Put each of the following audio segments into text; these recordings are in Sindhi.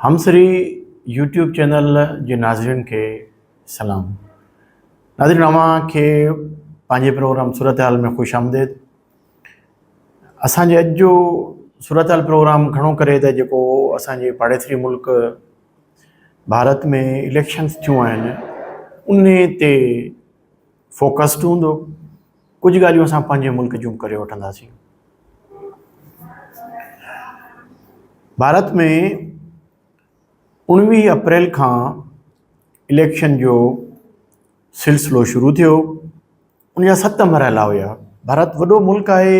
همسري يوٽيوب چينل جي ناظرين کي سلام ناظرين اوهان کي پنهنجي پروگرام صورتحال ۾ خوش آمديد اسان جي اڄ جو صورتحال پروگرام گهڻو ڪري ته جيڪو اسان جي پاڙيسري ملڪ ڀارت ۾ اليڪشنس ٿيون آهن ان تي فوڪسڊ هوندو، ڪجهه ڳالهيون اسان پنهنجي ملڪ جون ڪري وٺنداسين. ڀارت ۾ اوڻويهه اپريل کان اليڪشن جو سلسلو شروع ٿيو، ان جا ست مرحلا هيا، ڀارت وڏو ملڪ آهي،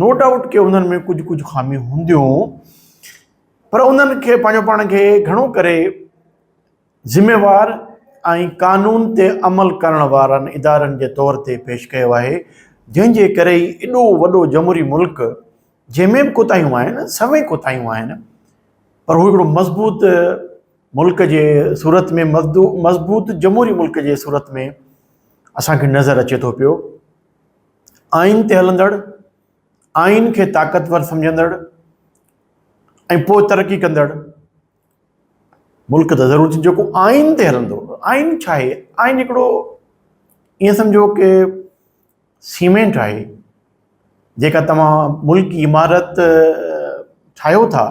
نو ڊائوٽ ڪي انهن ۾ ڪجهه ڪجهه خاميون هونديون پر انهن کي پنهنجو پاڻ کي گهڻو ڪري ذميوار ۽ قانون تي عمل ڪرڻ وارن ادارن جي طور تي پيش ڪيو آهي جنهن جي ڪري ئي ايڏو وڏو جمهوري ملڪ جنهن ۾ به ڪوتاهيون آهن سوين ڪوتاهيون آهن پر هو هڪڙو مضبوط ملڪ جي صورت ۾ مضبوط جمهوري ملڪ جي صورت ۾ اسان کي نظر اچي ٿو پيو آئين تي هلندڙ، آئين کي طاقتور سمجهندڙ ۽ پوء ترقي ڪندڙ ملڪ ته ضرور ٿيندو جيڪو آئين تي هلندو آئين ڇا آهي آئين هڪڙو ائين سمجهو ڪي سيمينٽ آهي جيڪا توهان ملڪ جي عمارت ٺاهيو ٿا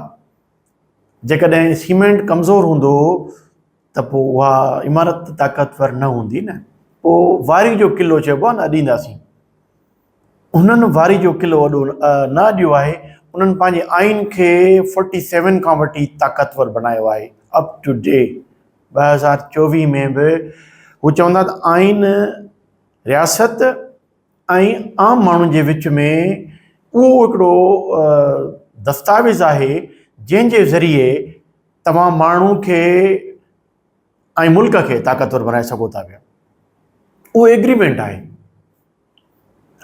جيڪڏهن سيمينٽ ڪمزور هوندو ته پوء اها عمارت ته طاقتور نه هوندي نه؟ پوء واري جو قلعو چئبو آهي نه اڏينداسين. هنن واري جو قلعو اڏو نه اڏيو آهي، انهن پنهنجي آئين کي فورٽي سيون کان وٺي طاقتور بنايو آهي اپ ٽو ڊي ٻه هزار چوويهه ۾ به هو چوندا ته آئين رياست ۽ عام ماڻهن جي وچ ۾ اهو هڪڙو دستاويز آهي جنهن جي ذريعي توهان ماڻهو کي ۽ ملڪ کي طاقتور بنائي سگهو ٿا پيا اهو ايگريمينٽ آهي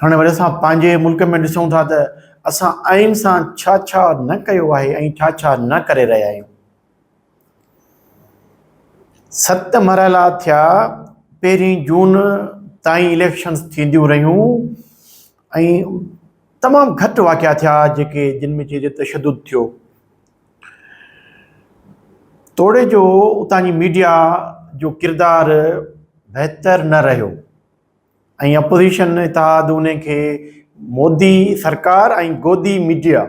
هاڻي وري اسان پنهنجي ملڪ ۾ ڏسون ٿا ته اسان آئين سان ڇا ڇا نه ڪيو آهي ۽ ڇا ڇا نه ڪري رهيا آهيون ست مرحلا ٿيا، پهرين جون تائين اليڪشنز ٿينديون رهيون ۽ تمام گهٽ واقعا ٿيا جيڪي جن ۾ چئجي تشدد ٿيو. توڙي جو اتان جي ميڊيا جو ڪردار بهتر نه رهيو ۽ اپوزيشن اتحاد انهن کي مودي سرڪار ۽ گودي ميڊيا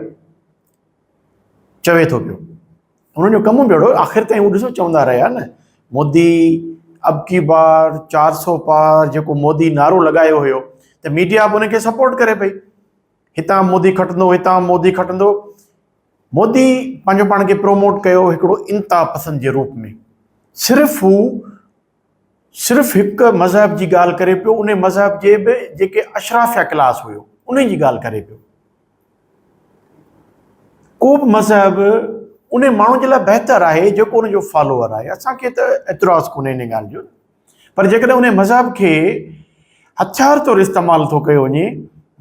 چوي ٿو پيو انهن جو ڪم بيڙو آخر تائين هو ڏسو چوندا رهيا نه مودي ابڪي بار چار سو پار جيڪو مودي نعرو لڳايو هيو ته ميڊيا به ان کي سپورٽ ڪري پئي هتان مودي کٽندو هتان مودي کٽندو مودي پنهنجو پاڻ کي پروموٽ ڪيو هڪڙو انتها پسند جي روپ ۾ صرف هو صرف هڪ مذهب جي ڳالهه ڪري پيو، انهي مذهب جي به جيڪي اشرافيه ڪلاس هيو انهي جي ڳالهه ڪري پيو. ڪو به مذهب انهي ماڻهو جي لاء بهتر آهي جيڪو ان جو فالوور آهي، اسان کي ته اعتراض ڪونهي انهي ڳالهه جو پر جيڪڏهن انهي مذهب کي هٿيار طور استعمال ٿو ڪيو وڃي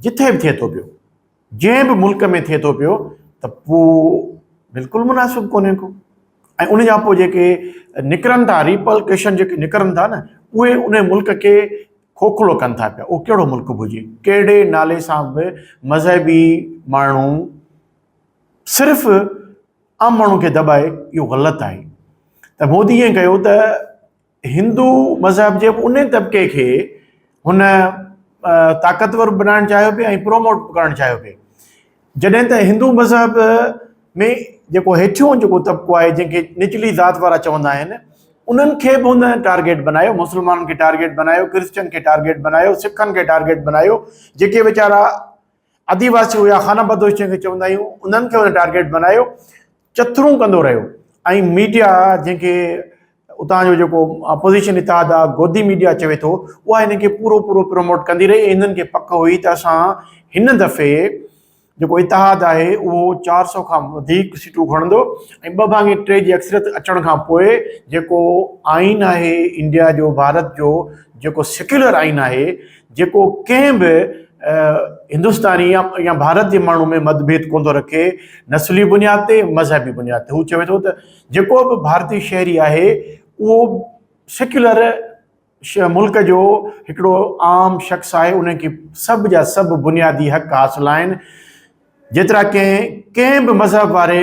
جٿي به ٿئي ٿو پيو. جنهن به ملڪ ۾ ٿئي ٿو پيو ته پوء بلڪل مناسب ڪونهي ڪو ۽ ان جا پوء جيڪي نڪرن ٿا ريپل ڪيشن جيڪي نڪرن ٿا نه اهي ان ملڪ کي کوکلو ڪن ٿا پيا اهو ڪهڙو ملڪ به هجي ڪهڙي نالي سان به مذهبي ماڻهو صرف عام ماڻهو کي دٻائي اهو غلط آهي ته مودي ائين ڪيو ته هندو مذهب جي ان طبقي کي هن طاقتور بنائڻ چاهيو پي ۽ پروموٽ ڪرڻ چاهيو پي جڏهن ته هندو مذهب ۾ جيڪو هيٺيون جيڪو طبقو آهي جنهن کي نچلي ذات وارا چوندا آهن انهن کي به هن ٽارگيٽ بنايو مسلمانن کي ٽارگيٽ بنايو ڪرسچن کي ٽارگيٽ بنايو سکن کي ٽارگيٽ بنايو جيڪي ويچارا آديواسي هيا خانه بدوش جنهن کي چوندا آهيون انهن کي هن ٽارگيٽ بنايو چٿرون ڪندو رهيو ۽ ميڊيا جنهن کي اتان جو جيڪو اپوزيشن اتحاد آ گودي ميڊيا چوي ٿو اها هن کي پورو پورو پروموٽ ڪندي رهي ۽ هنن کي پڪ هئي ته اسان هن دفعي جيڪو اتحاد آهي اهو چار سؤ کان وڌيڪ سيٽون کڻندو ۽ ٻه ڀاڱي ٽي جي اڪثريت اچڻ کان پوء جيڪو آئين آهي انڊيا جو ڀارت جو جيڪو سيڪيولر آئين آهي جيڪو ڪنهن به هندستاني يا ڀارت جي ماڻهو ۾ مت ڀيد ڪونه ٿو رکي نسلي بنياد تي مذهبي بنياد تي هو چوي ٿو ته جيڪو به ڀارتي شهري آهي اهو سيڪيولر ملڪ جو هڪڙو عام شخص آهي ان کي سڀ جا سڀ بنيادي حق حاصل آهن جيترا ڪنهن ڪنهن به مذهب واري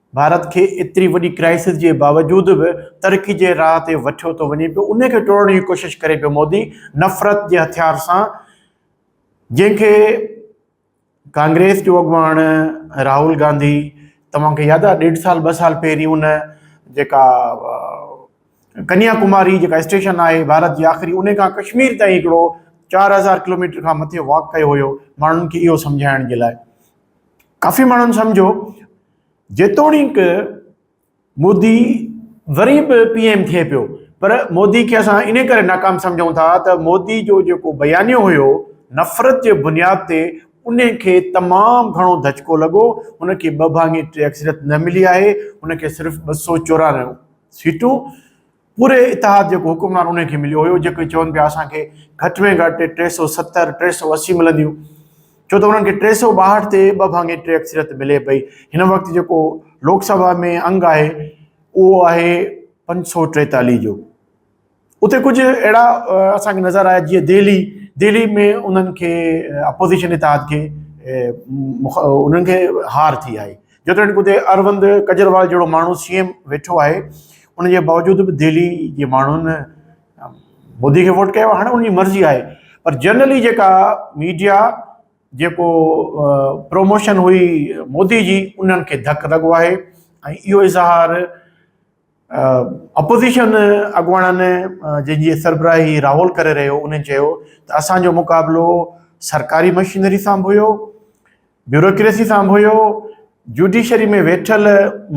ڀارت کي ايتري وڏي ڪرائسس جي باوجود به ترقي جي راهه تي وٺيو ٿو وڃي پيو ان کي ٽوڙڻ جي ڪوشش ڪري پيو مودي نفرت جي هٿيار سان جنهن کي ڪانگريس جو اڳواڻ راهول گانڌي توهان کي ياد آهي ڏيڍ سال ٻه سال پهرين ان جيڪا ڪنيا ڪماري جيڪا اسٽيشن آهي ڀارت جي آخري ان کان ڪشمير تائين هڪڙو چار هزار ڪلوميٽر کان مٿي واڪ ڪيو هيو ماڻهن کي اهو سمجهائڻ جي لاء ڪافي ماڻهن سمجهو جيتوڻيڪ مودي وري به پي ايم ٿئي پيو پر مودي کي اسان ان ڪري ناڪام سمجهون ٿا ته مودي جو جيڪو بيانيو هيو نفرت جي بنياد تي ان کي تمام گهڻو ڌچڪو لڳو ان کي ٻه ڀاڱي ٽي اڪثريت نه ملي آهي ان کي صرف ٻه سؤ چورانوي سيٽون پوري اتحاد جيڪو حڪمران انهن کي مليو هيو جيڪي چون پيا اسان کي گهٽ ۾ گهٽ ٽي سؤ ستر ٽي سؤ اسي ملنديون ڇو ته انهن کي ٽي سؤ ٻاهٺ تي ٻه ڀاڱي ٽي اڪثريت ملي پئي هن وقت جيڪو لوڪ سڀا ۾ انگ آهي اهو آهي پنج سؤ ٽيتاليهه جو اتي ڪجهه اهڙا اسان کي نظر آيا جيئن دهلي دهلي ۾ انهن کي اپوزيشن اتحاد کي انهن کي هار ٿي آهي جيتوڻيڪ اتي اروند ڪجروال جهڙو ماڻهو سي ايم ويٺو آهي ان جي باوجود به دهلي جي ماڻهن مودي کي ووٽ ڪيو هاڻي انهي مرضي آهي پر جنرلي جيڪا ميڊيا جيڪو پروموشن هئي مودي جي انهن کي ڌڪ لڳو آهي ۽ اهو اظهار اپوزيشن اڳواڻن جن جي سربراهي راهول ڪري رهيو انهن چيو ته اسانجو مقابلو سرڪاري مشينري سان به هيو بيوروڪريسي سان به هيو، جوڊيشري ۾ ويٺل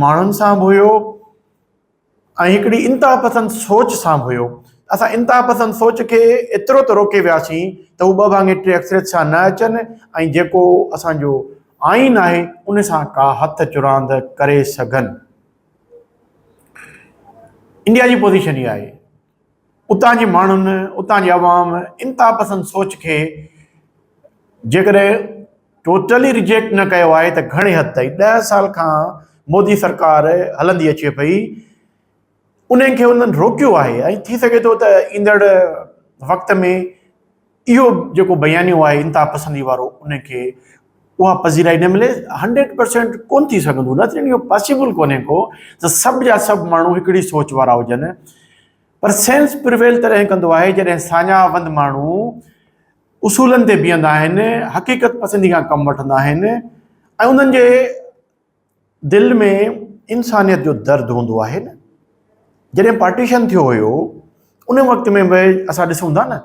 ماڻهن سان به هيو ۽ هڪڙي انتها پسند سوچ سان به هيو. اسان انتها پسند سوچ کي ايترو ته روڪي وياسين ته هو ٻه ڀاڱي ٽي اڪثريت سان نه اچن ۽ جيڪو اسان جو آئين آهي ان سان ڪا هٿ چراند ڪري سگهن. انڊيا جي پوزيشن اها آهي. اتان جي ماڻهن، اتان جي عوام انتها پسند سوچ کي جيڪڏهن ٽوٽلي ريجيڪٽ نه ڪيو آهي ته گهڻي حد تائين ڏهه سال کان مودي سرڪار هلندي اچي پئي انهن کي انهن روڪيو آهي ۽ ٿي سگهي ٿو ته ايندڙ وقت ۾ اهو جيڪو بيانيو آهي انتها پسندي وارو ان کي اها پذيرائي نه ملي هنڊريڊ پرسينٽ ڪون ٿي سگهندو نه ٿيڻ اهو پاسيبل ڪونهي ڪو ته سڀ جا سڀ ماڻهو هڪڙي سوچ وارا هجن پر سينس پرويل تڏهن ڪندو آهي جڏهن ساڃاهه وند ماڻهو اصولن تي بيهندا آهن حقيقت پسندي کان ڪم وٺندا آهن ۽ انهن جي دل ۾ انسانيت جو درد هوندو آهي نه جڏهن پارٽيشن ٿيو هيو ان وقت ۾ به اسان ڏسون ٿا نه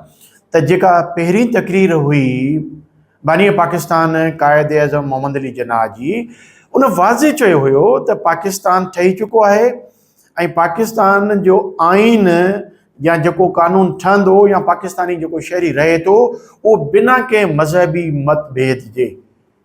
ته جيڪا پهرين تقرير هئي باني پاڪستان قائد اعظم محمد علي جناح جي ان واضح چيو هيو ته پاڪستان ٺهي چڪو آهي ۽ پاڪستان جو آئين يا جيڪو قانون ٺهندو يا پاڪستاني جيڪو شهري رهي ٿو اهو بنا ڪنهن مذهبي مت ڀيد جي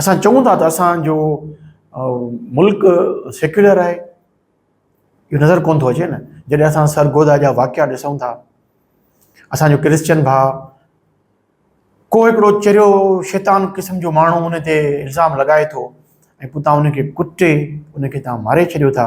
اسان چئون ٿا ته اسان جو ملڪ سيڪيولر آهي، اهو نظر ڪونه ٿو اچي نه، جڏهن اسان سرگوڌا جا واقعا ڏسون ٿا، اسان جو ڪرسچن ڀاء ڪو هڪڙو چريو شيطان قسم جو ماڻهو ان تي الزام لڳائي ٿو ۽ پوء تان ان کي ڪٽي ان کي تان ماري ڇڏيو ٿا.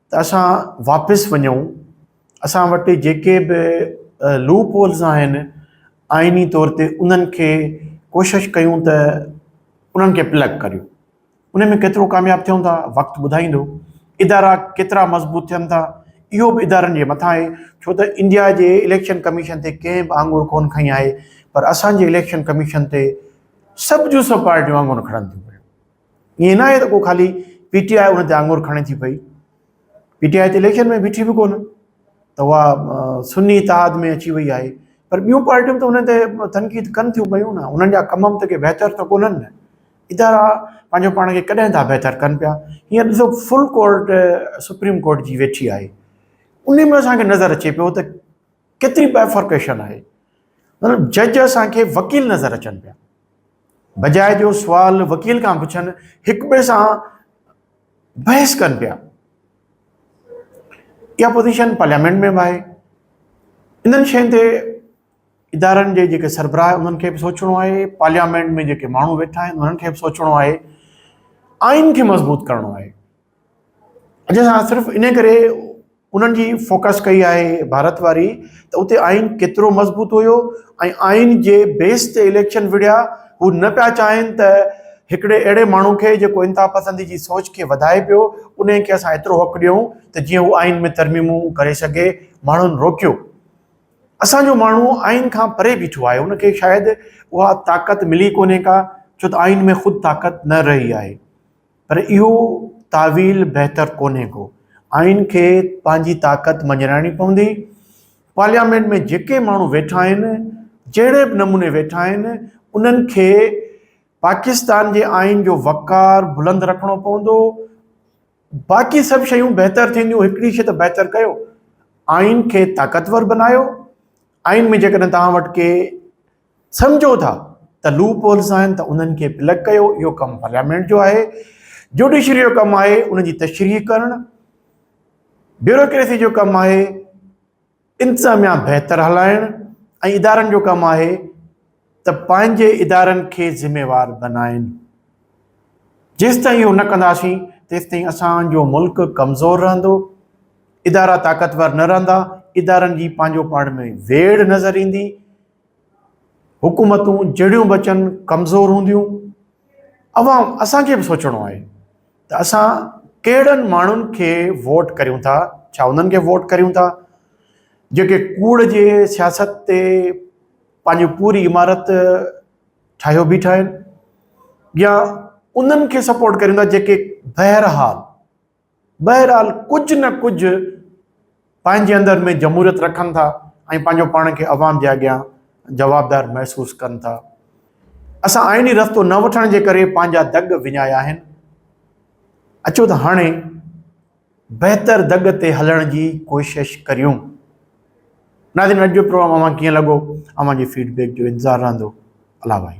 ته اسان واپس وڃون اسان وٽ جيڪي به لوپ هولز آهن آئيني طور تي انهن کي ڪوشش ڪيون ته انهن کي پلگ ڪريون ان ۾ ڪيترو ڪامياب ٿيون ٿا وقت ٻڌائيندو ادارا ڪيترا مضبوط ٿين ٿا اهو به ادارن جي مٿان آهي ڇو ته انڊيا جي اليڪشن ڪميشن تي ڪنهن به آڱر ڪون کڻي آهي پر اسان جي اليڪشن ڪميشن تي سڀ جون سڀ پارٽيون آڱر کڻن ٿيون ائين ناهي ته ڪو خالي پي ٽي آء ان تي آڱر کڻي ٿي پئي، پي ٽي آء ته اليڪشن ۾ بيٺي به ڪونه ته اها سني اتحاد ۾ اچي وئي آهي پر ٻيون پارٽيون ته ان تي تنقيد ڪن ٿيون پيون نه، انهن جا ڪم به ڪي بهتر ته ڪونهن نه، ادارا پنهنجو پاڻ کي ڪڏهن ٿا بهتر ڪن پيا، هينئر ڏسو فل ڪورٽ سپريم ڪورٽ جي ويٺي آهي، ان ۾ اسان کي نظر اچي پيو ته ڪيتري بائفرڪيشن آهي، مطلب جج اسان کي وڪيل نظر اچن پيا، بجاء جو سوال وڪيل کان پڇن، هڪ ٻئي سان بحث ڪن پيا. اها پوزيشن پارليامينٽ ۾ به آهي. انهن شين تي ادارن جي جيڪي سربراهه آهن انهن کي به سوچڻو آهي، پارليامينٽ ۾ جيڪي ماڻهو ويٺا آهن انهن کي به سوچڻو آهي، آئين کي مضبوط ڪرڻو آهي. اڄ اسان صرف ان ڪري انهن جي فوڪس ڪئي آهي ڀارت واري ته اتي آئين ڪيترو مضبوط هيو ۽ آئين جي بيس تي اليڪشن وڙهيا هو نه پيا چاهين ته هڪڙي اهڙي ماڻهو کي جيڪو انتها پسندي جي سوچ کي وڌائي پيو انهي کي اسان ايترو حق ڏيون ته جيئن هو آئين ۾ ترميمون ڪري سگهي ماڻهن روڪيو اسان جو ماڻهو آئين کان پري بيٺو آهي ان کي شايد اها طاقت ملي ڪونهي ڪا ڇو ته آئين ۾ خود طاقت نه رهي آهي پر اهو تاويل بهتر ڪونهي ڪو. آئين کي پنهنجي طاقت مڃرائڻي پوندي. پارليامينٽ ۾ جيڪي ماڻهو ويٺا آهن، جهڙي به نموني ويٺا آهن، انهن کي پاڪستان جي آئين جو وقار بلند رکڻو پوندو. باقي سڀ شيون بهتر ٿينديون، هڪڙي شيء ته بهتر ڪيو، آئين کي طاقتور بنايو. آئين ۾ جيڪڏهن توهان وٽ ڪي. سمجهو ٿا ته لوپ هولز آهن ته انهن کي پلگ ڪيو اهو ڪم پارليامينٽ جو آهي جوڊيشري جو ڪم آهي ان جي تشريح ڪرڻ بيوروڪريسي جو ڪم آهي انتظاميا بهتر هلائڻ ۽ ادارن جو ڪم آهي ته پنهنجي ادارن کي ذميوار بنائن جيس تائين اهو نه ڪنداسين تيس تائين اسان جو ملڪ ڪمزور رهندو ادارا طاقتور نه رهندا ادارن جي پنهنجو پاڻ ۾ ويڙ نظر ايندي حڪومتون جهڙيون به اچن ڪمزور هونديون عوام اسان کي به سوچڻو آهي ته اسان ڪهڙن ماڻهن کي ووٽ ڪريون ٿا ڇا انهن کي ووٽ ڪريون ٿا جيڪي ڪوڙ جي سياست تي پنهنجي پوري عمارت ٺاهيو بيٺا آهن يا انهن کي سپورٽ ڪريون ٿا جيڪي بهرحال بهرحال ڪجهه نه ڪجهه پنهنجي اندر ۾ جمهوريت رکن ٿا ۽ پنهنجو پاڻ کي عوام جي اڳيان جوابدار محسوس ڪن ٿا اسان آئيني رستو نه وٺڻ جي ڪري پنهنجا دڳ وڃايا آهن اچو ته هاڻي بهتر دڳ تي هلڻ جي ڪوشش ڪريون ناظرين اڄ جو پروگرام اوهان کي لڳو اوهان جي فيڊ بيڪ جو انتظار رهندو الله بھائی